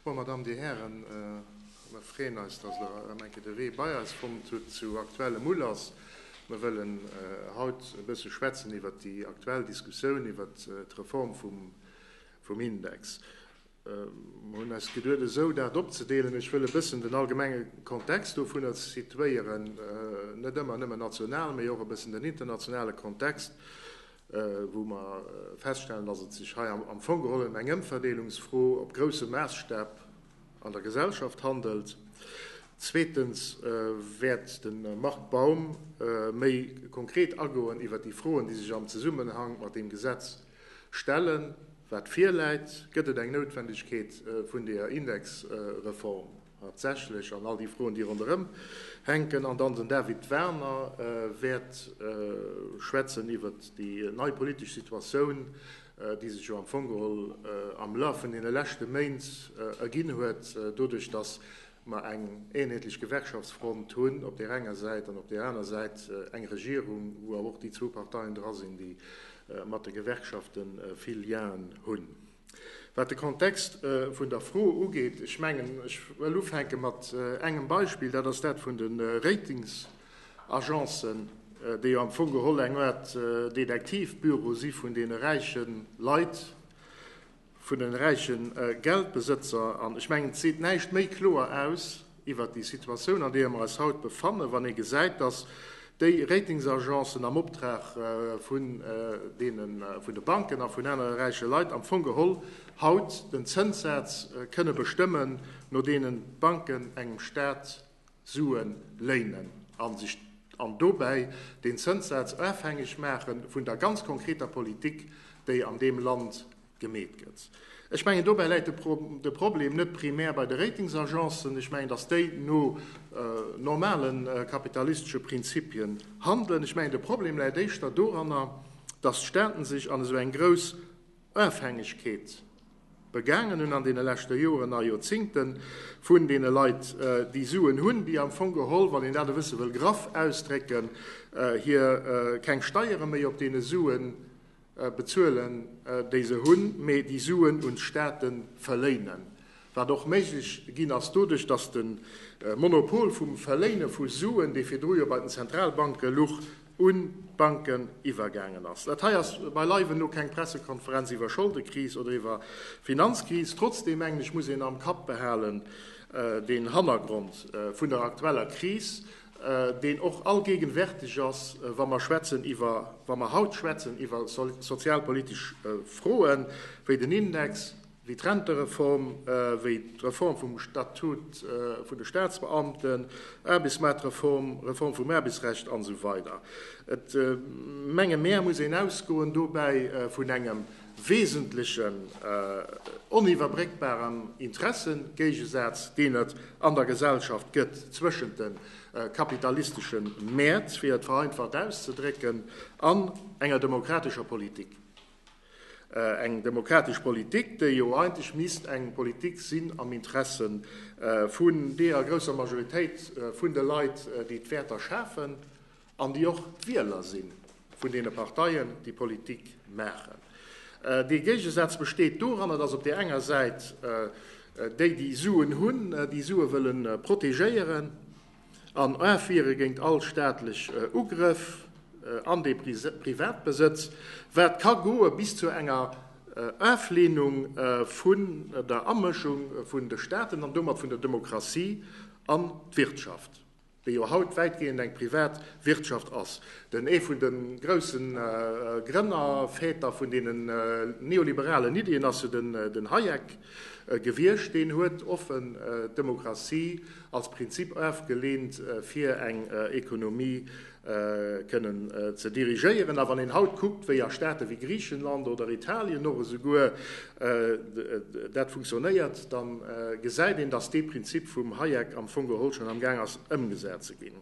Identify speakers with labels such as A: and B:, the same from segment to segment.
A: Bon, Mer Dammen, Dir Hären, mer freeën eis, dass Der erëm enke de Wee bei eis fonnt hutt zu aktuellem Ulass. Mer wëllen haut e bësse schwätzen iwwert déi aktuell Diskussioun iwwert d'Reform vum Index. Mer hunn eis geduet, esou dat opzedeelen, Ech wëll e bëssen den allgemenge Kontext dovunner situéieren, net ëmmer nëmmen national, mee och e bëssen den internationale Kontext, wou mer feststellen, dass et sech hei am Fong geholl ëm eng Ëmverdeelungsfro op grousse Maasstäb an der Gesellschaft handelt. Zweetens wäert de Marc Baum méi konkret agoen iwwert déi Froen, déi sech am Zesummenhang mat deem Gesetz stellen, wat virläit. Gëtt et eng Noutwendegkeet vun deeër Indexreform? Tatsächlech, an all déi Froen, déi ronderëm hänken. An dann den David Werner wäert schwätzen iwwert déi nei politesch Situatioun, déi sech jo am Fong geholl am Laf vun deene leschte Méint erginn huet, doduerch datt mer eng eenheetlech Gewerkschaftsfront hunn op där enger Säit an op där aner Säit eng Regierung, wou awer och déi zwou Parteien dra sinn, déi mat de Gewerkschafte vill Lienen hunn. Wat de Kontext vun der Fro ugeet, ech mengen, ech wëll ufänke mat engem Beispill, dat ass dat vun de Ratingsagencen, déi jo am Fong geholl eng Aart Detektivbüro si vun deene räiche Leit, vun de räiche Geldbesëtzer. An ech mengen, et seet näischt méi kloer aus, iwwert déi Situatioun, an deeër mer eis haut befannen, wann ee gesäit, datt déi Ratingsagencen am Optrag vun de Banken a vun anere räiche Leit am Fong geholl haut den Zënssaz kënne bestëmmen, no deenen d'Banken engem Staat Sue léinen an dobäi deen Zënssaz ofhängeg maache vun der ganz konkreter Politik, déi an deem Land gemeet gëtt. Ech mengen, dobäi läit de Problem net primär bei de Ratingsagencen. Ech mengen, datt déi no normale kapitalistesche Prinzipien handelen. Ech mengen, de Problem läit éischter doranner, datt d'Staaten sech an esou eng grouss Ofhängegkeet begaangen hunn an deene leschte Joren a Joerzingte vun deene Leit, déi Suen hunn, déi am Fong geholl, wann een dat e bësse wëll graff ausdrécken, hir keng Steiere méi op deene Suen bezuelen, déi se hunn, mee déi Suen un d'Staate verléinen, wat och méiglech ginn ass doduerch, datt de Monopol vum Verléine vu Suen, dee virdru jo bei den Zentralbanke luch, un d'Banken iwwergaangen ass. Dat hei ass beileiwen no keng Pressekonferenz iwwer Scholdekris oder iwwer Finanzkris. Trotzdeem mengen ech, muss een am Kapp behalen den Hannergrond vun der aktueller Kris, deen och allgéigenwärtig ass, wa mer schwätzen iwwer, wa mer haut schwätzen iwwer sozialpolitisch Froe wéi den Index, wéi d'Rentereform, wéi d'Reform vum Statut vun de Statsbeamten, Aarbechtsmaartreform, Reform vum Aarbechtsrecht an esou weider. Et, menge mer, muss een ausgoen dobäi vun engem, wesentlechen oniwwerbréckbaren Interessegéigesaz, deen et an der Gesellschaft gëtt zwëschent de kapitalistesche Mäert, fir et vereinfacht auszedrécken, an enger demokratescher Politik. Eng demokratesch Politik, déi jo eigentlech misst eng Politik sinn am Interesse vun deeër grousser Majoritéit vun de Leit, déi d'Wäerter schafen an déi och d'Wieler si vun deene Parteien, déi Politik maachen. Dee Géigesaz besteet doranner, dass op där enger Säit déi, déi Suen hunn, déi Sue wëlle protegéieren an afwiere géint all staatlech Ugrëff an dee Privatbesëtz, wat ka goe bis zu enger Afleenung vun der Amëschung vun de Staaten an domat vun der Demokratie an d'Wirtschaft. déi jo haut wäitgehend eng privat Wirtschaft ass, den ee vun de grousse Grënner, Väter vun deene neoliberalen Iddien ass jo den Hayek gewiescht, deen huet offen d'Demokratie als Prinzip ofgeleent fir eng Ekonomie, kënnen ze dirigéieren. A wann een haut kuckt, wéi a Staate wéi Griichenland oder Italien och esouguer dat funktionéiert, da gesäit een, datt dee Prinzip vum Hayek am Fong geholl schonn am Gaang ass ëmgesat ze ginn.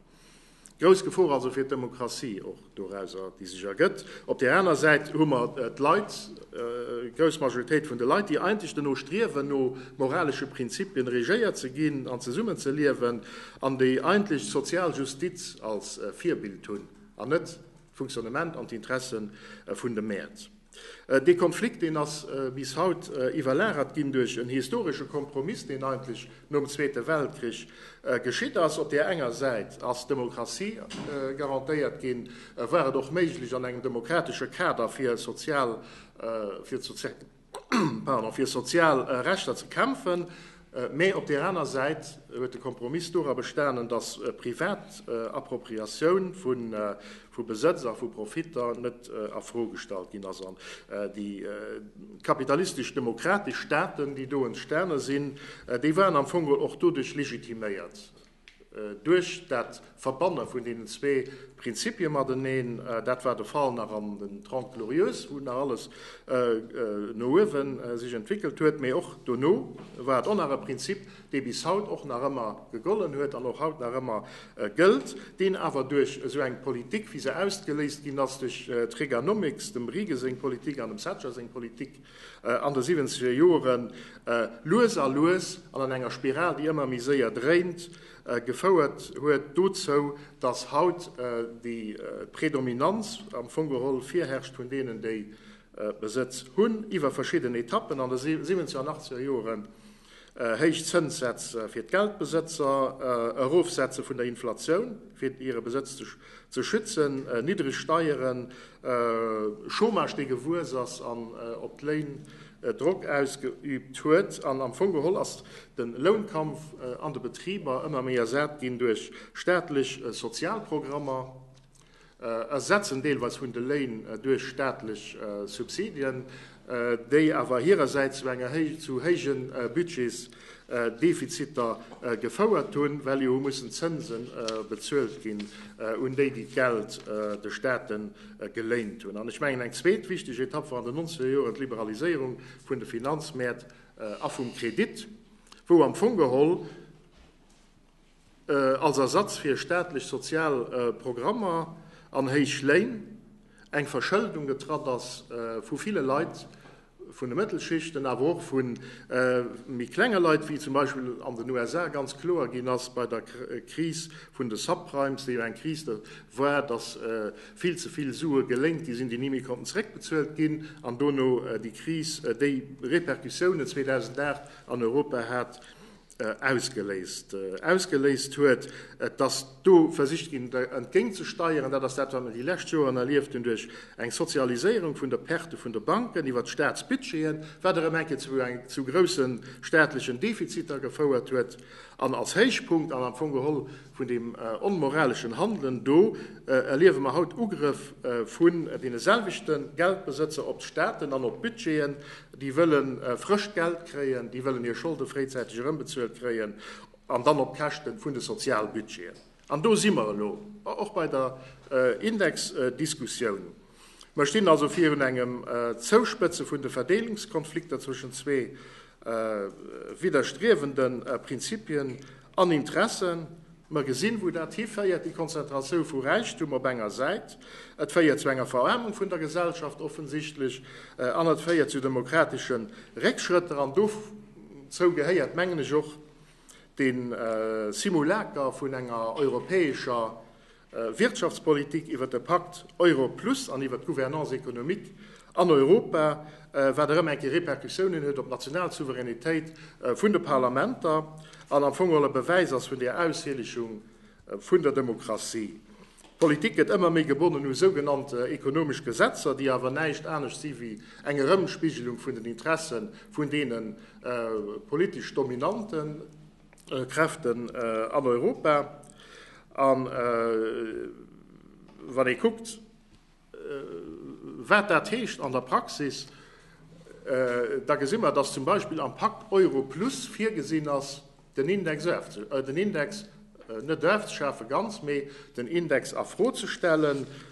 A: Grouss Gefor also fir d'Demokratie och dorauser, déi sech ergëtt. Op där aner Säit hu mer d'Leit, d'grouss Majoritéit vun de Leit, déi eigentlech dono striewen, no moralesche Prinzipien regéiert ze ginn an zesummen ze liewen. An déi eigentlech sozial Justiz als Virbild hunn, an net d'Funktionnement an d'Interesse vun de Mäert. Dee Konflikt, deen ass bis haut iwwerlagert ginn duerch en historesche Kompromiss, deen eigentlech nom Zweete Weltkrich geschitt ass. Op där enger Säit ass d'Demokratie garantéiert ginn, war et och méiglech an engem demokratesche Kader fir sozial, fir d'sozial. fir sozial Rechter ze kämpfen, mä op där aner Säit huet de Kompromiss dora bestanen, datt privat Appropriatioun vu Besëtz a vu Profitter net a Fro gestallt ginn ass. An déi kapitalistesch-demokratesch Staaten, déi do entstane sinn, déi waren am Fong och doduerch legitiméiert, Duerch dat Verbanne vun deenen zwee Prinzipie mateneen, dat war de Fall nach an den Trente Glorieuses, wou nach alles no uewe sech entwéckelt huet, mee och dono, war et och nach e Prinzip, dee bis haut och nach ëmmer gegollen huet an och haut nach ëmmer gëllt, deen awer duerch esou eng Politik, wéi se ausgeléist ginn ass duerch d'Reaganomics, dem Reagan seng Politik an dem Thatcher seng Politik, an de siwwenzeger Joren lues a lues an an enger Spiral, déi ëmmer méi séier dréint, gefouert huet dozou, datt haut déi Predominanz am Fong geholl virherrscht vun deenen, déi Besëtz hunn, iwwer verschidden Etappen an de siwwenzeger an achtzeger Joren. Héich Zënssätze fir d'Geldbesëtzer, Erofsetze vun der Inflatioun fir hire Besëtz ze schützen, niddreg Steieren, Chômage dee gewuess ass an op d'Léin Drock ausgeüübt huet. An am Fong geholl ass de Lounkampf an de Betriber ëmmer méi ersat ginn duerch staatlech Sozialprogrammer, ersetzen, deelweis vun de Léin duerch staatlech Subsidien, déi awer hirersäits zu enger zu héije Budgetsdefiziter gefouert hunn, well jo hu mussen Zënse bezuelt ginn un déi, déi d'Geld de Staaten geléint hunn. An ech mengen, eng zweet wichteg Etapp war an den nonzeger Joren d'Liberaliséierung vun de Finanzmäert a vum Kredit, wou am Fong geholl, als Ersatz fir staatlech sozial Programmer an héich Léin, eng Verschëldung getratt ass vu ville Leit vun de Mëttelschichten, awer och vu méi klenge Leit, wéi zum Beispill an den USA ganz kloer ginn ass bei der Kris vun de Subprimes, déi jo eng Kris war, datt vill ze vill Sue geléint gi sinn, déi ni méi konnten zeréckbezuelt ginn, an dono déi Kris, déi Repercussiounen 2008 an Europa hat. ausgeléist ausgeléist huet, dass do versicht ginn der entgéint ze steieren. Dat ass dat wat mer déi lescht Joren erlieft hunn duerch eng Sozialiséierung vun der Perte vun de Banken iwwert d'Staatsbudgeten, wat erëm eng Kéier zu eng zu grousse staatlechen Defiziter gefouert huet an als Héichpunkt an am Fong geholl, Vun deem onmoraleschen Handelen do erliewe mer haut Ugrëff vun deene selwechte Geldbesëtzer op d'Staaten an op d'Budgeten. Déi wëlle frëscht Geld kréien, déi wëllen hir Scholde fréizäiteg erëmbezuelt kréien, an dann op Käschte vun de Sozialbudgeten. An do si mer elo och bei der Indexdiskussioun. Mer stinn also virun engem Zouspëtze vun de Verdeelungskonflikter zwëschen zwee widderstriewende Prinzipien an Interessen. Mer gesinn, wou dat hiféiert, déi Konzentratioun vu Räichtum op enger Säit, et féiert zu enger Veraarmung vun der Gesellschaft offensichtlech an et féiert zu demokratesche Réckschrëtter. An dozou gehéiert, mengen ech, och de Simulacre vun enger europäescher Wirtschaftspolitik, iwwert de Pakt Euro Plus an iwwert d'Gouvernance économique an Europa, wat erëm eng Kéier Repercussiounen huet op d'national Souveränitéit vun de Parlamenter an am Fong och e Bewäis ass vun där Aushielechung vun der Demokratie. D'Politik gëtt ëmmer méi gebonnen u sougenannte ekonomesch Gesetzer, déi awer näischt anescht si wéi eng Erëmspigelung vun den Interesse vun deene politesch Dominanten. Kräften an Europa. An wann ee kuckt, wat dat heescht an der Praxis, da gesi mer, dass zum Beispill am Pakt Euro plus virgesinn ass, den Index net ofzeschafen, ganz, mee den Index a Fro ze stellen.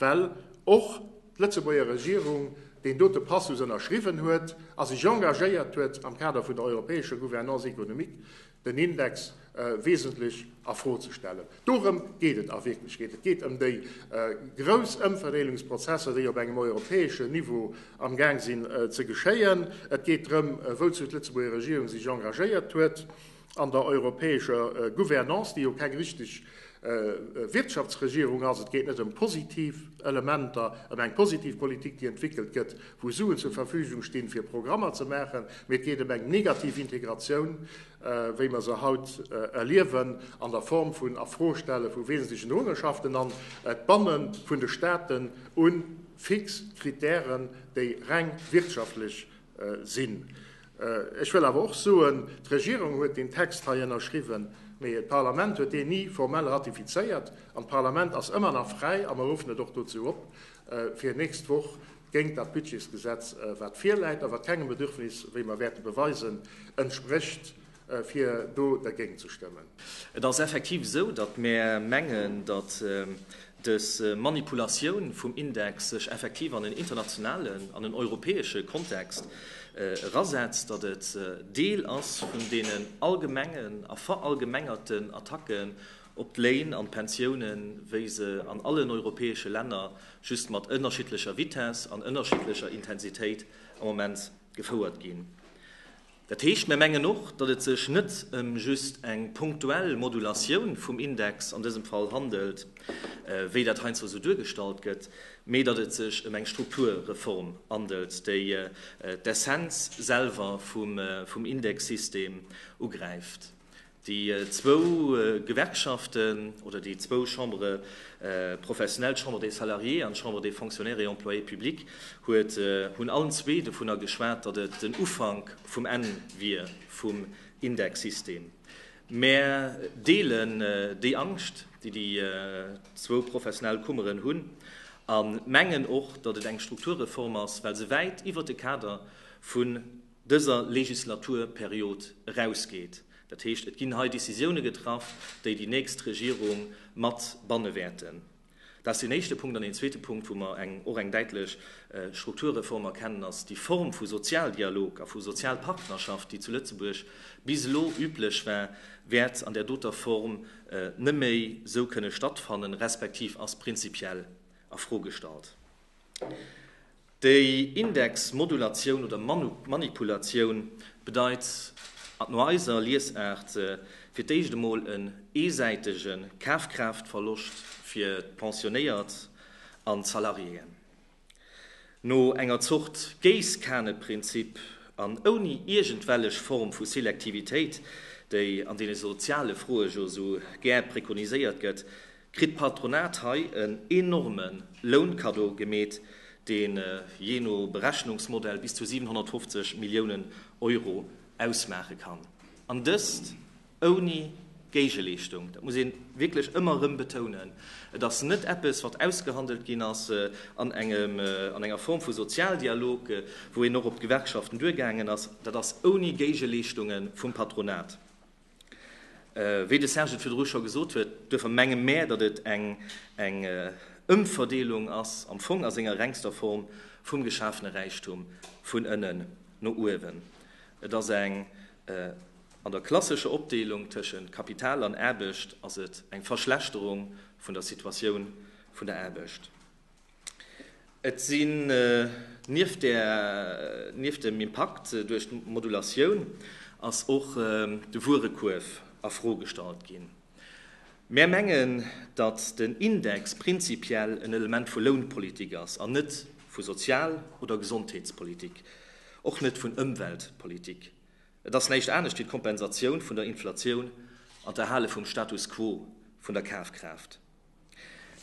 A: Well och d'Lëtzebuerger Regierung deen dote Passus ënnerschriwwen huet a sech engagéiert huet, am Kader vun der europäescher Gouvernance économique den Index wesentlech a Fro ze stellen. Dorëm geet et a Wierklechkeet. Et geet ëm déi grouss Ëmverdeelungsprozesser, déi op engem europäeschen Niveau am Gaang sinn ze geschéien. Et geet drëm, wouzu d'Lëtzebuerger Regierung sech engagéiert huet. an der europäescher Gouvernance, déi jo keng richteg Wirtschaftsregierung ass. Et geet net ëm positiv Elementer, ëm eng positiv Politik, déi entwéckelt gëtt, wou Suen zur Verfügung stinn, fir Programmer ze maachen, mee et geet ëm eng negativ Integratioun, wéi mer se haut erliewen, an der Form vun Afrostelle vu wesentlechen Hoereschaften an d'Banne vun de Staaten u fix Kritären, déi reng wirtschaftlech sinn. Ech wëll awer och soen, D'Regierung huet deen Text hei ënnerschriwwen, mee d'Parlament huet deen ni formell ratifizéiert. An d'Parlament ass ëmmer nach fräi, a mer ruffen et och dozou op, fir nächst Woch géint dat Budgetsgesetz, wat virläit a wat kengem Bedürfnis, wéi mer wäerte beweisen, entsprécht, fir do dergéint ze stëmmen. Et ass effektiv
B: esou, datt mär mengen, datt dës Manipulatioun vum Index sech effektiv an en internationalen, an en europäesche Kontext erasetzt, datt et Deel ass vun deenen allgemengen a verallgemengerten Attacken op d'Léin an d'Pensiounen, wéi se an allen europäesche Länner, just mat ënnerschiddlecher Vitesse an ënnerschiddlecher Intensitéit, am Moment gefouert ginn. Dat heescht, mir mengen och, datt et sech net ëm just eng punktuell Modulatioun vum Index an dësem Fall handelt, wéi dat heiansdo esou duergestallt gëtt, mee datt et sech ëm eng Strukturreform handelt, déi d'Essenz selwer vum Indexsystem ugräift. Déi zwou Gewerkschaften oder déi zwou Chambres professionnelles, d'Chambre des Salariés an d'Chambre des Fonctionnaires et Employés publics, huet, hunn allen zwee dovunner geschwat, datt et den Ufank vum Enn wier vum Indexsystem. Mär deelen déi Angscht, déi déi zwou professionell Kummeren hunn, a mengen och, datt et eng Strukturreform ass, well se wäit iwwert de Kader vun dëser Legislaturperiod erausgeet. Dat heescht, et ginn hei Décisioune getraff, déi déi nächst Regierung mat banne wäerten. Dat ass deen éischte Punkt. An deen zweete Punkt, wou mer och eng däitlech Strukturreform erkennen, ass déi Form vu Sozialdialog a vu Sozialpartnerschaft, déi zu Lëtzebuerg bis elo üblech war, wäert an där doter Form net méi esou kënne stattfannen, respektiv ass prinzipiell a Fro gestallt. Déi Indexmodulatioun oder manipulatioun bedeit no eiser Liesaart fir d'éischt emol en eesäitege Kafkraaftverloscht fir d'Pensionéiert an d'Salariéen. No enger Zort Géisskaneprinzip an ouni iergendwellech Form vu Selektivitéit, déi an deene soziale Froe jo esou gär prekoniséiert gëtt, kritt d'Patronat hei en enorme Lounkaddo gemeet, dee jee no Berechnungsmodell bis zu 750 Milliounen Euro ausmaache kann. An dëst ouni Géigeleeschtung. Dat muss ee wierklech ëmmer erëm betounen. Et ass net eppes, wat ausgehandelt ginn ass an enger Form vu Sozialdialog, wou een och op d'Gewerkschaften duergaangen ass. Dat ass ouni Géigeleeschtunge vum Patronat. Wéi de Serge et virdru scho gesot huet, duerfir menge mär, datt et eng Ëmverdeelung ass, am Fong a senger rengster Form, vum geschafene Räichtum vun ënnen no uewen. Et ass eng, an der klassescher Opdeelung tëschent Kapital an Aarbecht, ass et eng Verschlechterung vun der Situatioun vun der Aarbecht. Et sinn nieft dem Impakt duerch d'Modulatioun ass och de Wuerekuerf a Fro gestallt ginn. Mär mengen, datt den Index prinzipiell en Element vu Lounpolitik ass an net vu Sozial oder Gesondheetspolitik, och net vun Ëmweltpolitik. Et ass näischt anescht wéi d'Kompensatioun vun der Inflatioun an d'Erhale vum Status quo vun der Kafkraaft.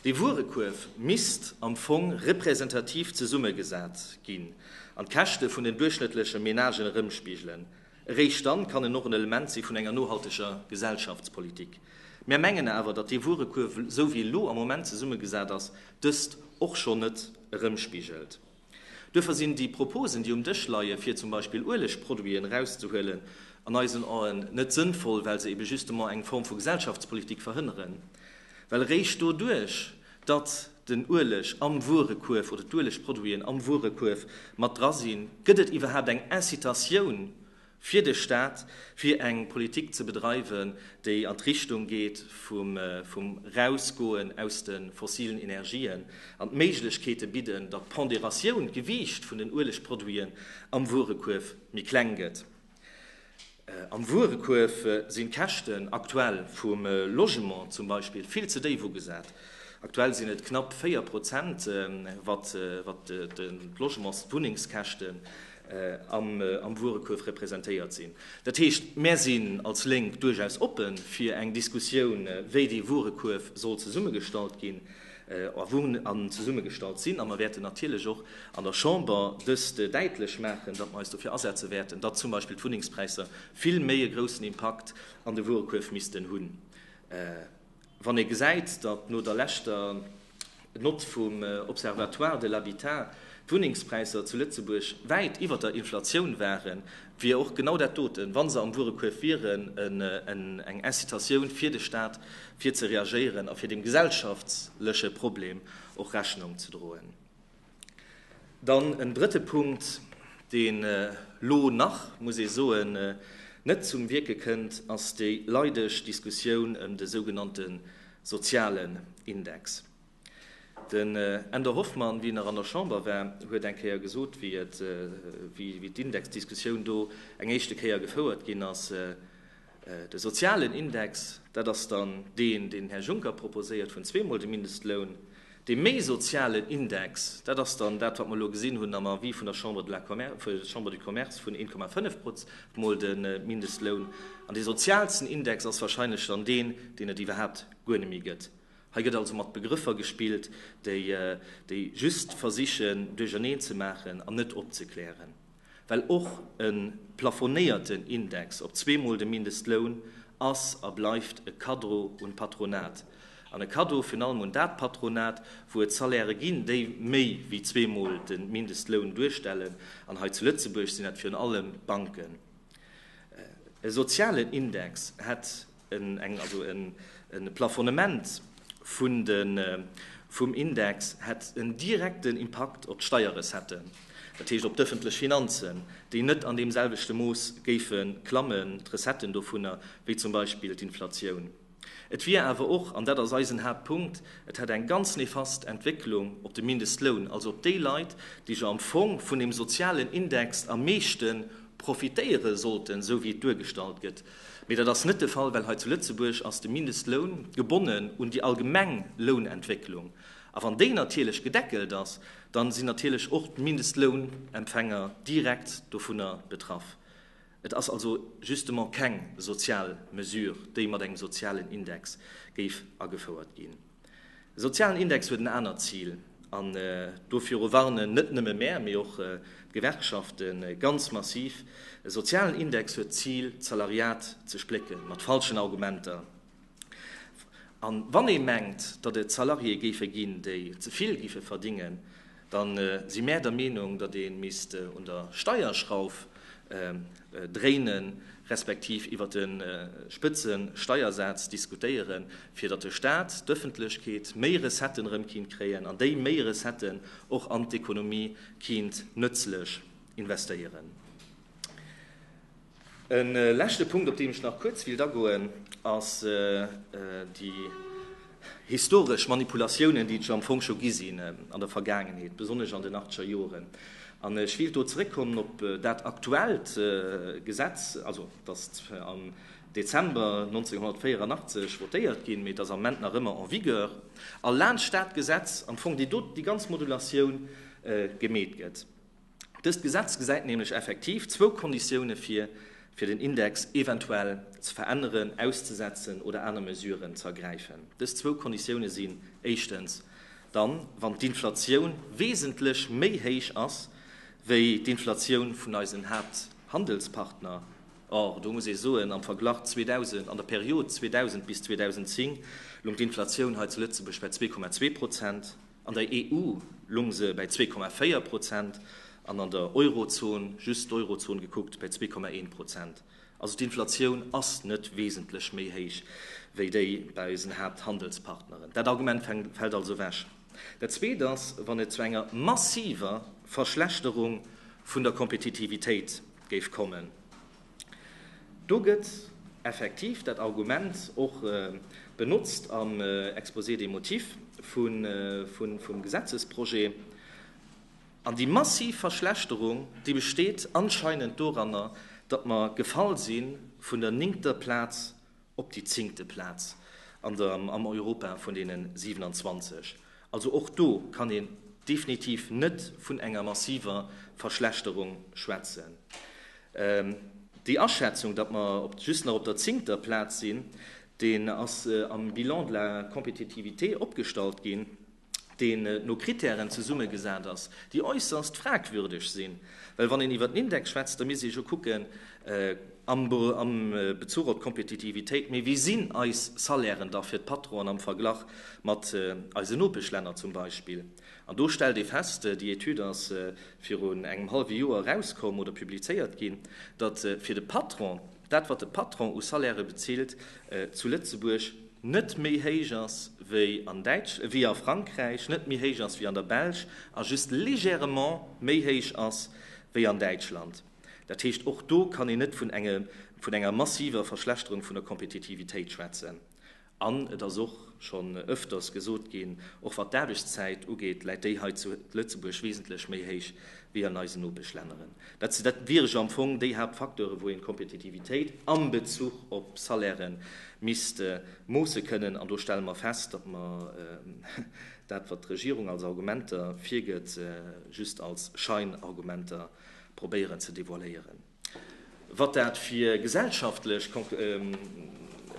B: Dee Wuerekuerf misst am Fong representativ zesummegesat ginn an d'Käschte vun den duerchschnëttleche Menagen erëmspigelen. Eréischt dann kann en och en Element si vun enger nohalteger Gesellschaftspolitik. Mär mengen awer, datt dee Wuerekuerf, esou wéi e lo am Moment zesummegesat ass, dëst och schonn net erëmspigelt. Duerfir sinn déi Proposen, déi um Dësch leien, fir zum Beispill Uelegproduiten erauszehuelen, an eisen Aen net sënnvoll, well se ebe justement eng Form vu Gesellschaftspolitik verhënneren. Well eréischt doduerch, datt den Ueleg am Wuerekuerf oder d'Uelegproduiten am Wuerekuerf mat dra sinn, gëtt et iwwerhaapt eng Incitatioun, fir de Stat, fir eng Politik ze bedreiwen, déi an d'Richtung geet vum Erausgoen aus de fossilen Energien an d'Méiglechkeete bidden, datt d'Pondératioun, d'Gewiicht vun den Uelegproduiten am Wuerekuerf méi kleng gëtt. Am Wuerekuerf sinn d'Käschten aktuell vum Logement zum Beispill vill ze déif ugesat. Aktuell sinn et knapp 4 Prozent, wat d'Logements-, d'Wunnengskäschten am Wuerekuerf representéiert sinn. Dat heescht, mär sinn als Lénk duerchaus oppe fir eng Diskussioun, wéi dee Wuerekuerf soll zesummegestallt ginn a wou en zesummegestallt sinn. A mer wäerten natierlech och an der Chamber dëst däitlech maachen, datt mer eis dofir asetze wäerten, datt zum Beispill d'Wunnengspräisser vill méi e groussen Impakt an de Wuerekuerf missten hunn, Wann ee gesäit, datt no der leschter Nott vum Observatoire de l'habitat d'Wunnengspräisser zu Lëtzebuerg wäit iwwer der Inflatioun waren, wier och genau dat doten, wa se am Wuerekuerf wieren, eng Incitatioun fir de Staat, fir ze reagéieren a fir deem gesellschaftleche Problem och Rechnung ze droen. Dann en drëtte Punkt, deen elo nach, muss ee soen, net zum Wierke kënnt, ass déi leideg Diskussioun ëm de sougenannte sozialen Index. Den Änder Hoffmann, wien nach an der Chamber war, huet eng Kéier gesot, wéi d'Indexdiskussioun do eng éischte Kéier gefouert ginn ass, De sozialen Index, dat ass dann deen, deen den Här Juncker proposéiert, vun zweemol dem Mindestloun. Dee méi sozialen Index, dat ass dann dat, wat mer elo gesinn hunn am Avis vun der Chambre du Commerce, vun 1,5 mol de Mindestloun. An dee sozialsten Index ass wahrscheinlech dann deen, deen et iwwerhaapt guer net méi gëtt. Hei gëtt also mat Begrëffer gespillt, déi just versichen, duercherneen ze maachen an net opzeklären. Well och e plafonéierten Index op zweemol de Mindestloun ass a bleift e Cadeau un d'Patronat. An e Cadeau virun allem un dat Patronat, wou et Salairë ginn, déi méi wéi zweemol de Mindestloun duerstellen. An hei zu Lëtzebuerg sinn dat virun allem d'Banken. E sozialen Index hätt E Plafonnement vum Index hätt en direkten Impakt op d'Steierrecetten, dat heescht op d'ëffentlech Finanzen, déi net an deem selwechte Mooss géife klammen, d'Recetten dovunner, wéi zum Beispill d'Inflatioun. Et wier awer och, an dat ass eisen Haaptpunkt, et hätt eng ganz nefast Entwécklung op de Mindestloun, also op déi Leit, déi jo am Fong vun deem sozialen Index am meeschte profitéiere sollten, esou wéi et duergestallt gëtt. Mee dat ass net de Fall, well hei zu Lëtzebuerg ass de Mindestloun gebonnen un déi allgemeng Lounentwécklung. A wann déi natierlech gedeckelt ass, da sinn natierlech och d'Mindestlounempfänger direkt dovunner betraff. Et ass also justement keng sozial Mesure, déi mat engem sozialen Index géif agefouert ginn. De sozialen Index huet en anert Zil an doviru warnen net nëmme mär, mee och d'Gewerkschafte ganz massiv. E sozialen Index huet d'Zil, d'Salariat ze splécken, mat falschen Argumenter. A wann ee mengt, datt et Salariéë géife ginn, déi ze vill géife verdingen, Da si mär der Meenung, datt ee misst un der Steierschrauf dréinen, respektiv iwwer de Spëtzesteiersaz diskutéieren, fir datt de Staat, d'Ëffentlechkeet méi Recetten erëm kinnt kréien an déi méi Recetten och an d'Ekonomie kinnt nëtzlech investéieren. E leschte Punkt, op deen ech nach kuerz wéilt agoen, ass déi historesch Manipulatiounen, déi et jo am Fong scho gi sinn an der Vergaangenheet, besonnesch an den achteger Joren. An ech wéilt do zeréckkommen op dat aktuellt Gesetz, also datt am Dezember 1984 votéiert ginn, mee et ass am Moment nach ëmmer en vigueur, a laanscht dat Gesetz am Fong déi doten déi ganz Modulatioun gemeet gëtt. Dëst Gesetz gesäit nämlech effektiv zwou Konditioune vir, fir den Index eventuell ze veränneren, auszesetzen oder aner Mesuren ze ergräifen. Dës zwou Konditioune sinn, éischtens, dann, wann d'Inflatioun wesentlech méi héich ass wéi d'Inflatioun vun eisen Haapthandelspartner, or, do muss ee soen, am Verglach 2000, an der Period 2000 bis 2010 loung d'Inflatioun hei zu Lëtzebuerg bei 2,2 Prozent. An der EU lung se bäi 2,4 Prozent an an der Eurozon, just d'Eurozon gekuckt, bäi 2,1 Prozent. Also d'Inflatioun ass net wesentlech méi héich wéi déi bäi eisen Haapthandelspartneren. Dat Argument fält also ewech. Dat Zweet ass, wann et zu enger massiver Verschlechterung vun der Kompetitivitéit géif kommen, Do gëtt effektiv dat Argument och benotzt am Exposé des motifs vum Gesetzesprojet. An déi massiv Verschlechterung, déi besteet anscheinend doranner, datt mer gefall si vun der néngter Plaz op déi zéngte Plaz an der am Europa vun deene 27. Also och do kann een definitiv net vun enger massiver Verschlechterung schwätzen. Déi Aschätzung, datt mer op just nach op der zéngter Plaz sinn, deen ass am Bilan de la compétitivité opgestallt ginn. deen no Kritären zesummegesat ass, déi äusserst fragwürdeg sinn, well wann een iwwert en Index schwätzt, da misst ee jo kucken am Bezuch op d'Kompetitivitéit, mee wéi sinn eis Salairen da fir d'Patronen am Verglach mat eisen Nopeschlänner zum Beispill? An do stellt ee fest, déi Etüd ass viru engem hallwe Joer erauskomm oder publizéiert ginn, datt fir de Patron, dat wat de Patron u Salairë bezilt, zu Lëtzebuerg net méi héich ass wéi an Däitsch-, wéi a Frankräich, net méi héich ass wéi an der Belsch a just légèrement méi héich ass wéi an Däitschland. Dat heescht, och do kann een net vun engem, vun enger massiver Verschlechterung vun der Kompetitivitéit schwätzen. An et ass och schonn öfters gesot ginn, och wat d'Aarbechtszäit ugeet, läit déi hei zu Lëtzebuerg wesentlech méi héich wéi an eisen Nopeschlänneren. Dat wiere jo am Fong déi Haaptfacteure wou een d'Kompetitivitéit am Bezuch op Salaire misst moosse kënnen. An do stelle mer fest, datt mer dat wat d'Regierung als Argumenter virgëtt, just als Scheinargumenter probéieren ze devoiléieren. Wat dat fir gesellschaftlech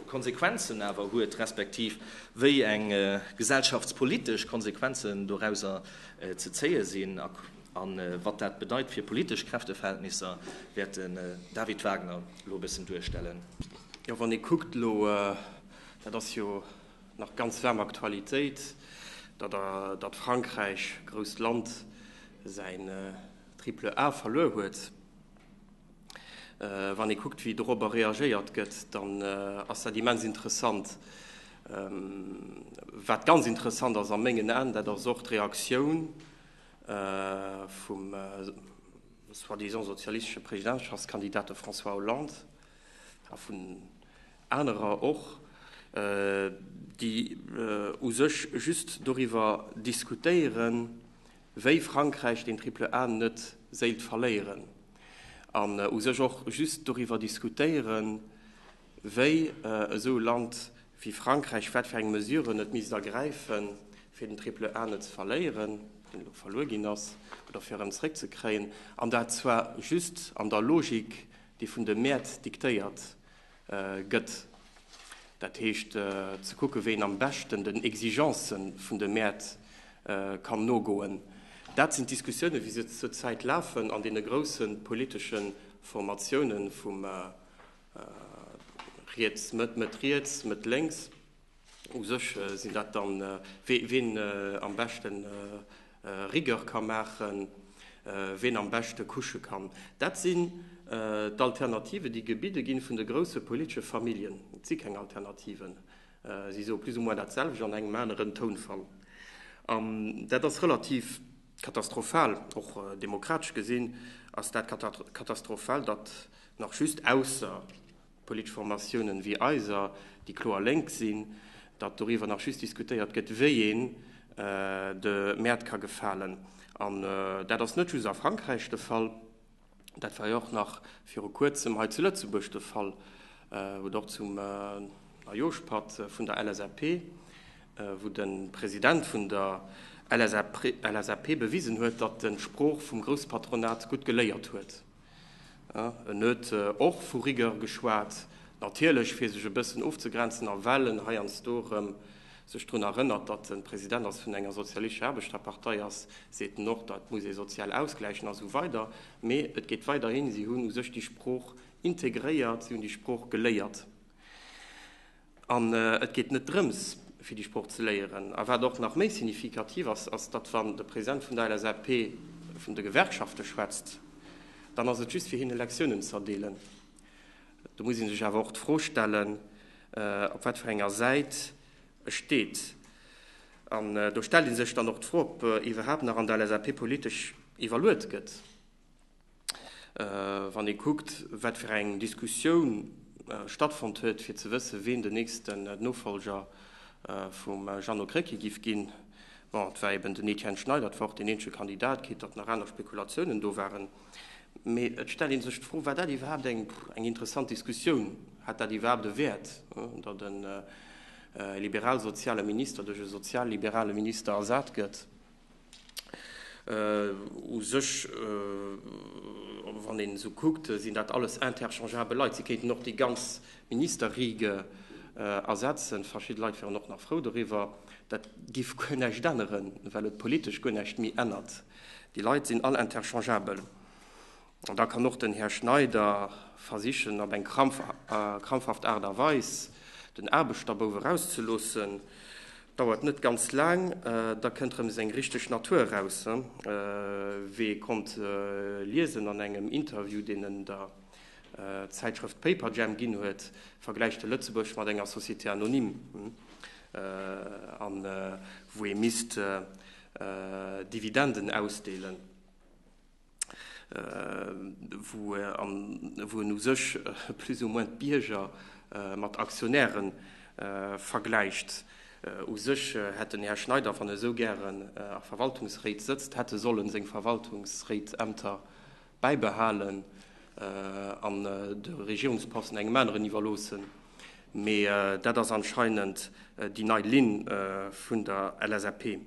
B: Konsequenzen awer huet, respektiv wéi eng gesellschaftspolitesch Konsequenzen dorauser ze zéie sinn a wat dat bedeit fir politesch Kräfteverhältnisser, wäert den David Wagner elo e bëssen duerstellen. Jo, wann ee
C: kuckt elo, dat ass jo nach ganz waarm Aktualitéit, datt Frankräich, grousst Land, säin Triple A verluer huet. Wann ee kuckt, wéi dorobber reagéiert gëtt, dann ass dat immens interessant. Wat ganz interessant ass a mengen Aen, dat ass och d'Reaktioun vum soi-disant sozialistesche Presidentschaftskandidat, de François Hollande, a vun anerer och, déi u sech just doriwwer diskutéieren, wéi Frankräich den Triple A net séilt verléieren an u sech och just doriwwer diskutéieren, wéi esou e Land wéi Frankräich, wat fir eng Mesuren et misst ergräifen, fir den Triple A net ze verléieren, deen elo verluer ginn ass, oder fir en zréckzekréien, an dat zwar just an der Logik, déi vun de Mäert diktéiert gëtt, dat heescht ze kucken, wéi een am beschten den Exigence vun de Mäert kann nogoen. Dat sinn d'Diskussiounen, wéi se zur Zäit lafen an deene grousse politesche Formatioune vu riets, Mëtt, Mëtt-riets, Mëtt-lénks. U sech sinn dat dann, ween am beschten Rigueur ka maachen, ween am beschte kusche kann. Dat sinn d'Alternativen, déi gebidde ginn vun de grousse politesche Familljen. Et si keng Alternativen, si soe plus ou moins datselwecht an engem aneren Tounfall. An dat ass relativ katastrophal. Och demokratesch gesinn ass dat katastrophal, datt nach just ausser Politesch Formatiounen wéi eiser, déi kloer lénk sinn, datt doriwwer nach just diskutéiert gëtt, wéi een de Mäert ka gefalen. An dat ass net just a Frankräich de Fall, dat war jo och nach viru Kuerzem hei zu Lëtzebuerg de Fall, wou et och zum Neijooschpatt vun der LSAP, wou de President vun der LSAP bewisen huet, datt e Sprooch vum Groussepatronat gutt geléiert huet. En huet och vu Rigueur geschwat, natierlech fir sech e bëssen ofzegrenzen a well en heiansdo erëm sech drun erënnert, datt en President ass vun enger sozialistescher Aarbechterpartei ass, seet en och, dat muss ee sozial ausgläichen a sou weider. Mee et geet weider hin, si hunn u sech déi Sprooch integréiert, si hunn déi Sprooch geléiert. An et geet net drëms, fir déi Sprooch ze léieren. A wat och nach méi signifikativ ass, ass, datt wann de President vun der LSAP vun de Gewerkschafte schwätzt, dann ass et just fir hinne Lektiounen z'erdeelen. Do muss ee sech awer och d'Fro stellen, op wat fir enger Säit e steet. An do stellt ee sech dann och d'Fro, ob iwwerhaapt nach an der LSAP politesch iwwerluet gëtt. Wann ee kuckt, wat fir eng Diskussioun stattfonnt huet, fir ze wëssen, wien den nächsten Nofolger vum Jeannot Krecké giff ginn, bon, et war eben den Etienne Schneider, et war och deen eenzege Kandidat, quitte datt nach aner Spekulatiounen do waren. Mee et stellt ee sech d'Fro, War dat iwwerhaapt eng interessant Diskussioun? Hat dat iwwerhaapt e Wäert, datt e liberal-soziale Minister duerch e sozial-liberale Minister ersat gëtt? U sech, wann een esou kuckt, sinn dat alles interchangeabel Leit. Si kéinten och déi ganz Ministerriege ersetzen. Verschidde Leit wieren och nach frou doriwwer. Dat géif guer näischt änneren, well et politesch guer näischt méi ännert. Déi Leit sinn all interchangeabel. An da kann och den Här Schneider versichen, op eng krampfhaft Aart a Weis den Aarbechterbouf erauszeloossen. Dauert net ganz laang, da kënnt rëm seng richteg Natur eraus. Wee konnt liesen an engem Interview, deen en der Zäitschrëft Paperjam ginn huet, vergläicht e Lëtzebuerg mat enger Société anonyme, wou ee misst Dividenden ausdeelen. wou en u sech plus ou moins d'Bierger mat Aktionäre vergläicht. U sech hätt den Här Schneider, wann e sou gären a Verwaltungsréit sëtzt, hätt e sollen seng Verwaltungsréitsämter bäibehalen an de Regierungsposten engem aneren iwwerloossen. Mee dat ass anscheinend déi nei Linn vun der LSAP.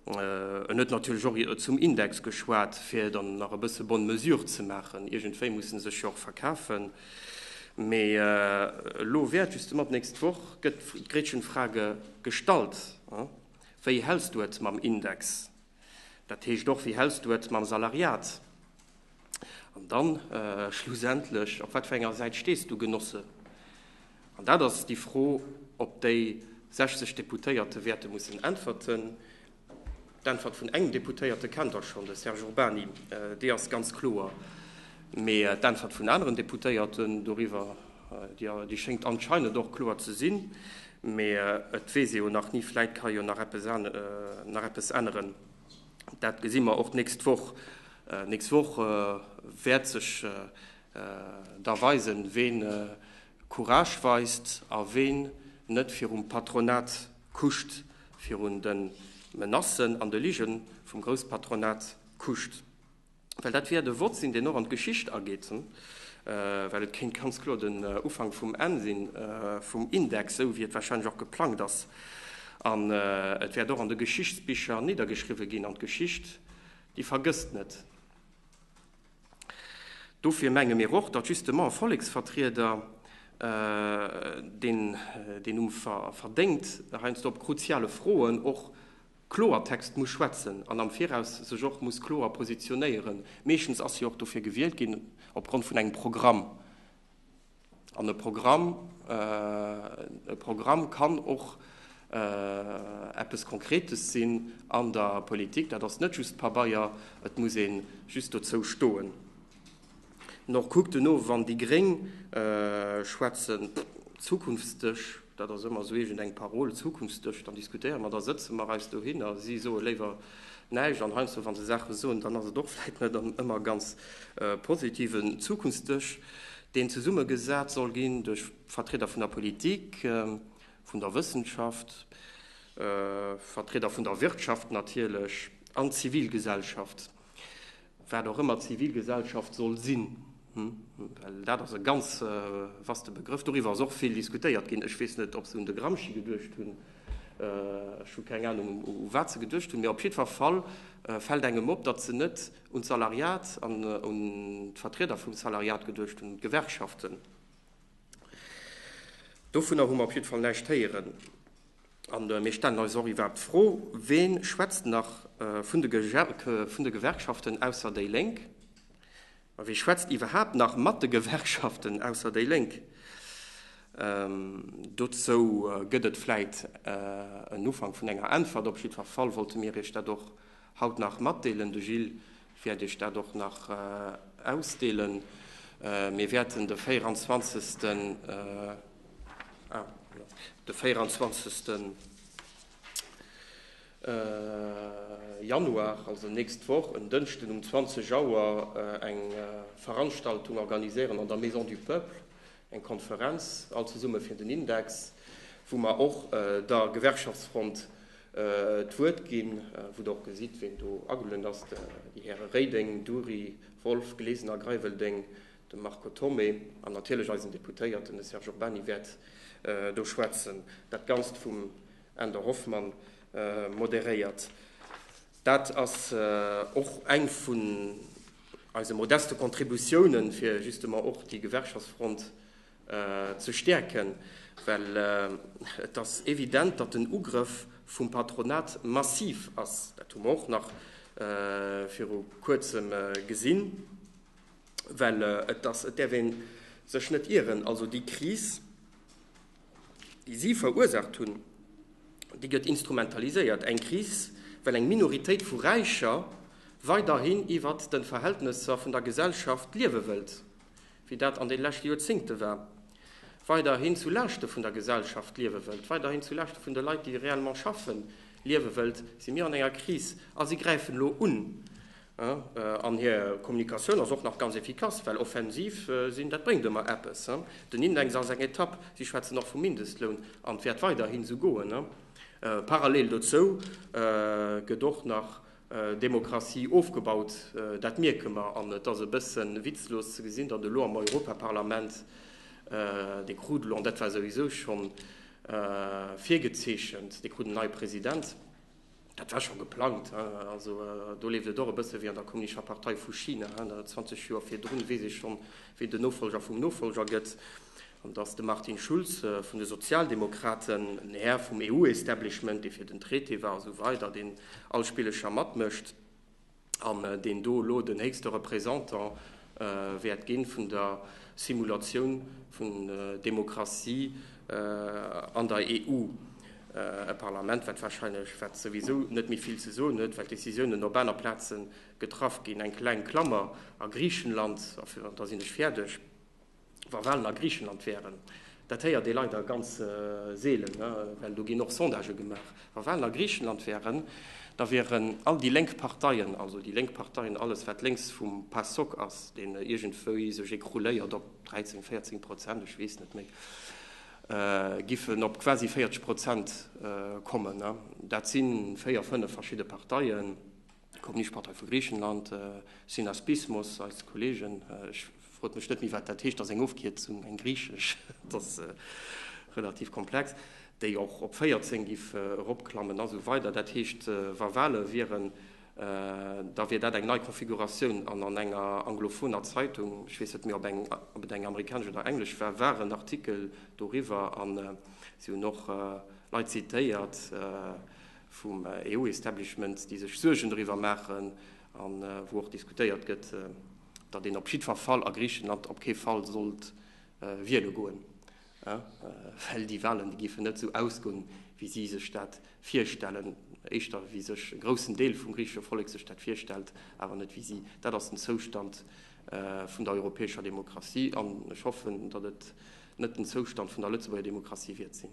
C: En huet natierlech och zum Index geschwat, fir dann nach e bësse bonne mesure ze maachen. Iergendwéi muss en sech jo och verkafen. Mee elo wäert justement d'nächst Woch gëtt d'Gretchenfrage gestallt, Wéi häls du et mam Index? Dat heescht och, Wéi häls du et mam Salariat? An dann schlussendlech, Op wat fir enger Säit stees du, Genosse? An dat ass déi Fro, op déi 60 Deputéierte wäerte mussen äntwerten. D'Äntwert vun engem Deputéierte kennt Der schonn, de Serge Urbany, déi ass ganz kloer. Mee d'Äntwert vun aneren Deputéierten doriwwer, déi schéngt anscheinend och kloer ze sinn. Mee et weess ee jo nach ni, vläicht ka jo nach eppes änneren. Dat gesi mer och d'nächst Woch. D'nächst Woch wäert sech Da weis en, ween Courage weist a ween net virum Patronat kuscht, virun de Menacen an de Ligen vum Grousspatronat kuscht. Well dat wäert e Wort sinn, deen och an d'Geschicht ageet, well et kéint ganz kloer den Ufank vum Enn sinn vum Index, esou wéi et wahrscheinlech och geplangt ass. An et wäert och an de Geschichtsbicher niddergeschriwwen ginn. An d'Geschicht, déi vergësst net. Dofir menge mir och, datt justement e Volleksvertrieder, deen deen Numm verdéngt, heiansdo op kruziale Froen och Kloertext muss schwätzen an am Viraus sech och muss kloer positionéieren. Meeschtens ass hie och dofir gewielt ginn, opgrond vun engem Programm. An e Programm, e Programm kann och eppes Konkretes sinn an der Politik. Dat ass net just Pabeier, et muss ee just dozou stoen. Nor, kuckt elo, wann déi Gréng schwätzen, zukunftsdësch. Dat ass ëmmer esou iergend eng Parole, Zukunftsdësch, dann diskutéiere mer, da sëtze mer eis dohinner, si soe léiwer näischt an heiansdo wa se Saache soen, dann ass et och vläit net ëmmer ganz positiv. En Zukunftsdësch, deen zesummegesat soll ginn duerch Vertrieder vun der Politik, vun der Wëssenschaft, Vertrieder vun der Wirtschaft natierlech an d'Zivilgesellschaft. Wat och ëmmer d'Zivilgesellschaft soll sinn, well dat ass e ganz vaste Begrëff, doriwwer ass och vill diskutéiert ginn. Ech weess net, ob se un de Gramsci geduecht hunn, ech hu keng Anung, u wat se geduecht hunn, mee op jiddwer Fall fält engem op, datt se net un d'Salariat an un d'Vertrieder vum Salariat geduecht hunn, un d'Gewerkschaften. Dovunner hu mer op jiddwer Fall näischt héieren. An mir stellen eis och iwwerhaapt d'Fro, Wee schwätzt nach vun de Gewerkschaften ausser déi Lénk? A wee schwätzt iwwerhaapt nach mat de Gewerkschaften ausser déi Lénk? Dozou gëtt et vläit en Ufank vun enger Äntwert. Op jiddwer Fall wollte mir Iech dat och haut nach matdeelen. De Gilles Wäert iech dat och nach ausdeelen. Mir wäerten de 24 Januar, also nächst Woch, en Dënschden um 20 Auer eng Veranstaltung organiséieren an der Maison du Peuple. Eng Konferenz all zesumme fir den Index, wou mer och der Gewerkschaftsfront d'Wuert ginn, wou Der och gesitt, ween do agelueden ass, déi Häre Reding, Dury, Wolff, Glesener, Greiwelding, de Marco Thomé an natierlech eisen Deputéierten, de Serge Urbany wäert do schwätzen. Dat Ganzt vum Änder Hoffmann moderéiert. Dat ass och eng vun eise modeste Contributiounen, fir justement och déi Gewerkschaftsfront ze stäerken, well et ass evident, datt den Ugrëff vum Patronat massiv ass. Dat hu mer och nach viru Kuerzem gesinn. Well et ass, et däerf ee sech net ieren, also déi Kris, déi si verursaacht hunn, déi gëtt instrumentaliséiert, eng Kris, well eng Minoritéit vu Räicher weiderhin iwwer de Verhältnesser vun der Gesellschaft liewe wëllt, wéi dat an de leschte Joerzéngte war, weiderhin zu Laaschte vun der Gesellschaft liewe wëllt, weiderhin zu Laaschte vun de Leit, déi réellement schaffen, liewe wëllt, si mir an enger Kris a si gräifen elo un. An hir Kommunikatioun ass och nach ganz efficace, well offensiv sinn, dat bréngt ëmmer eppes. Den Index ass eng Etapp, si schwätzen och vum Mindestloun, an et wäert weiderhin esou goen. Parallel dozou gëtt och nach Demokratie ofgebaut, dat mierke mer. An et ass e bësse witzlos ze gesinn, datt elo am Europaparlament dee Krudel, an dat war souwisou scho virgezeechent, dee krut en neie President. Dat war scho geplangt. Also do leeft et och e bësse wéi an der Kommunischer Partei vu China. Zwanzeg Joer virdrun weess ee schonn, wee den Nofolger vum Nofolger gëtt. An datt de Martin Schulz vun de Sozialdemokraten, en Här vum EU-Establishment, dee fir den Traité war a sou weider, deen all Spillecher matmécht, an deen do elo den héchste Représentant wäert ginn vun der Simulatioun vun Demokratie an der EU. E Parlament, wat wahrscheinlech, wat souwisou net méi vill ze soen huet, well d'Décisiounen op aner Plazen getraff ginn, eng kleng Klammer a Griechenland, a da sinn ech fäerdeg. Wa Walen a Griichenland wären, dat héiert ee leider ganz seelen, well do ginn och Sondagë gemaach, wa Walen a Griichenland wären, da wieren all déi lénk Parteien, also déi lénk Parteien, alles wat lénks vum Pasok ass, deen iergendwéi sech ecrouléiert op 13, 14 Prozent, ech weess net méi, giffen op quasi 40 Prozent kommen. Dat si véier, fënnef verschidde Parteien. D'Kommunistpartei vu Griichenland, Synaspismos, eis Kolleegen, ech frot mech net méi wat dat heescht, ass eng Ofkierzung, eng griichesch, et ass relativ komplex, déi och op 14 géif eropklammen a sou weider. Dat heescht, wa Wahle wieren, da wier dat eng nei Konfiguratioun. An an enger anglophoner Zeitung, ech weess net méi ob et eng amerikanesch oder englesch war, war en Artikel doriwwer a si hunn och Leit zitéiert, vum EU-Establishment, déi sech Suergen doriwwer maachen a wou och diskutéiert gëtt, datt een op jiddwer Fall a Griichenland op kee Fall sollt wiele goen, well déi Wahlen, déi géifen net esou ausgoen, wéi si sech dat virstellen, éischter wéi sech e groussen Deel vum griichesche Vollek sech dat virstellt, awer net wéi si. Dat ass den Zoustand vun der europäescher Demokratie an ech hoffen, datt et net den Zoustand vun der Lëtzebuerger Demokratie wiert sinn.